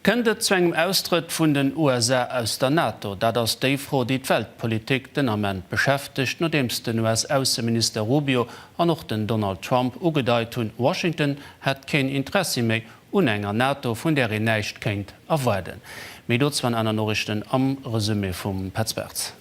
Kënnt et zu engem Austrëtt vun den USA aus der NATO? Dat ass déi Fro, déi d'Weltpolitik den Ament beschäftegt, nodeems den US-Ausseminister Rubio an och den Donald Trump ugedeit hunn, Washington hätt keen Interessi méi un enger NATO, vun där een näischt kéint erwaarden. Méi dozou an aner Noriichten am Resumé vum Petz Bartz.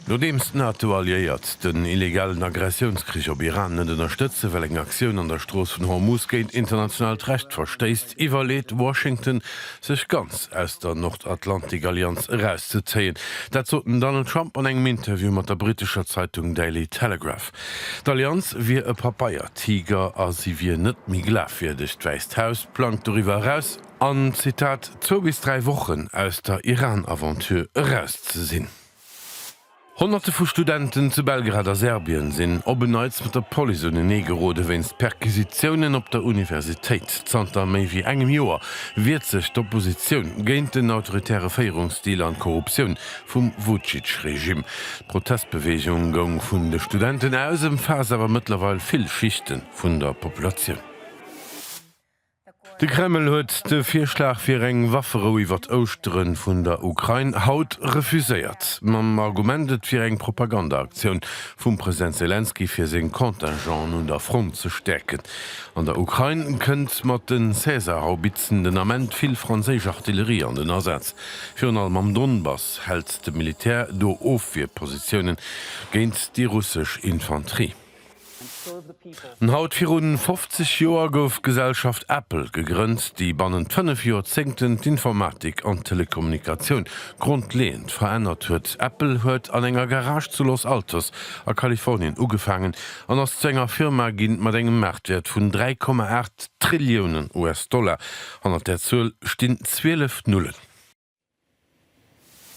Nodeems d'NATO-Alliéiert den illegalen Aggressiounskrich op Iran net ënnerstëtze well eng Aktioun an der Strooss vun Hormuz géint internationaalt Recht verstéisst, iwwerleet Washington sech ganz aus der Nordatlantikallianz erauszezéien. Dat sot den Donald Trump an engem Interview mat der brittescher Zeitung Daily Telegraph. D'Allianz wier e Papeiertiger a si wier net méi glafwierdeg. D'Wäisst Haus plangt doriwwer eraus, an, Zitat, zwou bis dräi Wochen aus der Iran-Aventure eraus ze sinn. Honnerte vu Studenten zu Belgrad a Serbien sinn op en Neits mat der Police unenee gerode wéinst Perquisitiounen op der Universitéit. Zanter méi wéi engem Joer wiert sech d'Oppositioun géint den autoritäre Féierungsstil an d'Korruptioun vum Vucic-Regimm. D'Protestbeweegung goung vun de Studenten aus, ëmfaasst awer mëttlerweil vill Schichte vun der Populatioun. De Kreml huet de Virschlag fir eng Wafferou iwwert Ouschtere vun der Ukrain haut refuséiert, mam Argument, et wier eng Propagandaaktioun vum President Selenskyj fir seng Contingenten un der Front ze stäerken. An der Ukrain kënnt mat de Caesar-Haubitzen den Ament vill franséisch Artillerie an den Asaz. Virun allem am Donbass hält de Militär do Ofwierpositiounen géint déi russesch Infanterie. An haut virun 50 Joer gouf d'Gesellschaft Apple gegrënnt, déi bannent fënnef Joerzéngten d'Informatik an d'Telekommunikatioun grondleeënd verännert huet. Apple huet an enger Garage zu Los Altos a Kalifornien ugefaangen an ass zu enger Firma ginn mat engem Maartwäert vun 3,8 Trilliounen US-Dollar, hannert där Zuel stinn 12 Nullen.